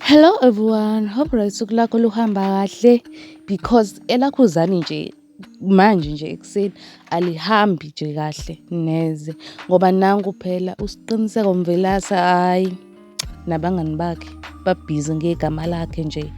Hello everyone, hope right usuku lakho luhamba kahle because elakhuzani nje manje nje ekuseni alihambi nje kahle neze ngoba nangu phela uSiqiniseko Mvelase hhayi. nabangani bakhe babhizi ngegama lakhe nje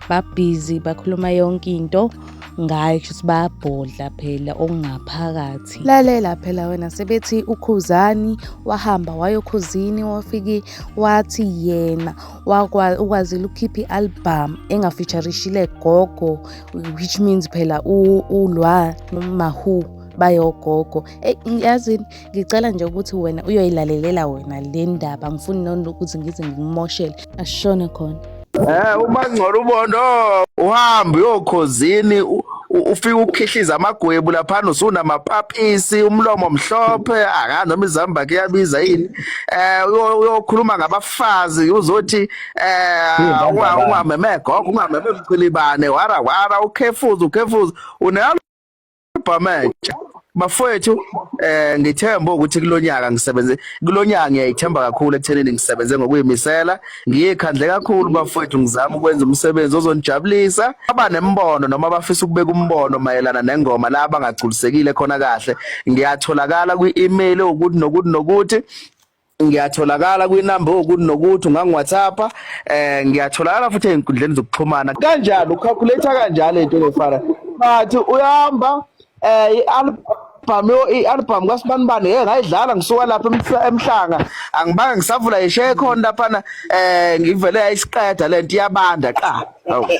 babhizi bakhuluma yonke into ngayo kushuthi bayabhodla phela okungaphakathi lalela phela wena sebethi ukhuzani wahamba wayokhuzini wafike wathi yena ukwazile ukukhipha i-album engafeaturishile gogo which means phela ulwa nomahu bayogogo eyi yazini ngicela nje ukuthi wena uyoyilalelela wena le ndaba ngifuni nona ukuthi ngize ngikumoshele ashone khona Eh uma ngcola ubondo uhambe uyokhozini ufika ukukhihliza amagwebu laphana usunamapapisi umlomo mhlophe aka noma izamba ke yabiza yini eh uyokhuluma ngabafazi uzothi eh ungameme gogo ungameme mchilibane wara wara ukhefuza ukhefuza unalo Bhamanje bafowethu eh ngithemba ukuthi kulonyaka ngisebenze kulonyaka ngiyayithemba kakhulu ekuthenini ngisebenze ngokuyimisela ngiyekhandle kakhulu bafowethu ngizama ukwenza umsebenzi ozonijabulisa aba nembono noma bafisa ukubeka umbono mayelana nengoma la bangagculisekile khona kahle ngiyatholakala kwi-email ukuthi nokuthi nokuthi ngiyatholakala kwinamba okuthi nokuthi ungangiwhatsappa eh ngiyatholakala futhi ezinkundleni zokuxhumana kanjalo ucalculator kanjalo into ngefana but uyahamba eh i-album i-album kwasibanibani hey ngayidlala ngisuka lapha emhlanga angibanga ngisavula ishaye khona laphana eh ngivele ayisiqeda lento iyabanda qa okay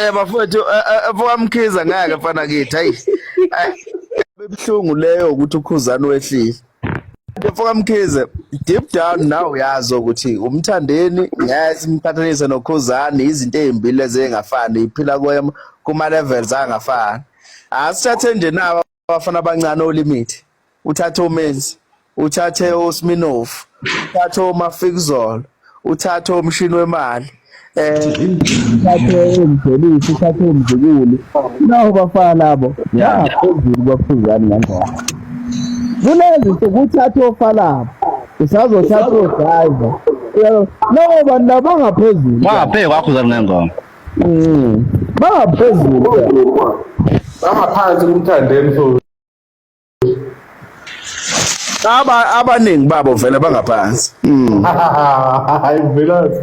Eh bafowethu eh, eh, eh, bafowamkhiza ngeke mfana kithi hayi. Bebhlungu leyo ukuthi ukhuzani wehlile. Mfokamkhize deep down now uyazi ukuthi umthandeni ngeke simqhathanise nokhuzani izinto ezimbili ezingafani iphila kuma levels angafani. Asithathe nje nawa abafana abancane olimit uthathe omenzi uthathe osminov uthathe omafikuzolo uthathe omshini wemali um uthathe umvelisi uthathe umzukulu nawo bafana labo yaphezulu kwaphuzani ngangona kulezi nsuku uthathe ofalabo usazothatha odrayiva nabo bantu abangaphezulu bangaphe kwakhuzani ngengoma Mm. Baphezulu. Bangaphansi kumthandeni so. Aba abaningi babo vele bangaphansi. Mm. Hayi velazi.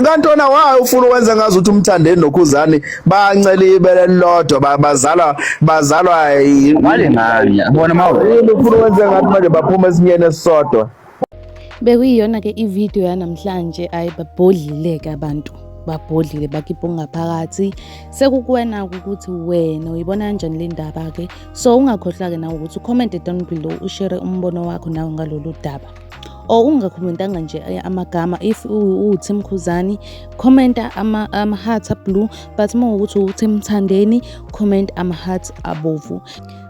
kantona wayo ufuna ukwenza ngazi ukuthi umthandeni nokhuzani bancela ibele lodwa bazalwa bazalwa yini bona mawufuna ukwenza ngathi manje baphuma esinyeni esisodwa Bekuyiyona ke ivideo yanamhlanje ayi babhodlileke abantu babhodlile bakhipha okungaphakathi sekukuwena ukuthi wena uyibona kanjani le ndaba ke so ungakhohlwa-ke nawe ukuthi ucommente down below ushere umbono wakho nawe ngalolu daba or ungakhomentanga nje eh, amagama if uwuthi mkhuzani khomenta ama-heart ama ablue but uma ukuthi uwuthi mthandeni comment ama-heart abovu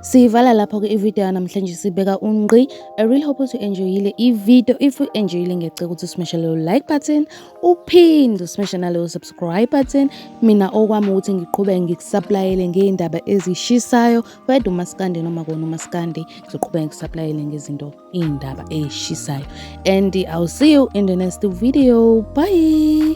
siyivala lapho-ke ividiyo yanamhlanje sibeka ungqi I really hope ukuthi u-enjoyile i-video if u-enjoyile ngiyacela ukuthi usimeshe leyo like button uphinde usimeshe naleyo subscribe button mina okwami ukuthi ngiqhubeke ngikusaplayele ngey'ndaba ezishisayo whether umasikande noma kona umasikande ngizoqhubeka ngikusaplayele ngezinto iy'ndaba ey'shisayo and i'll see you in the next video bye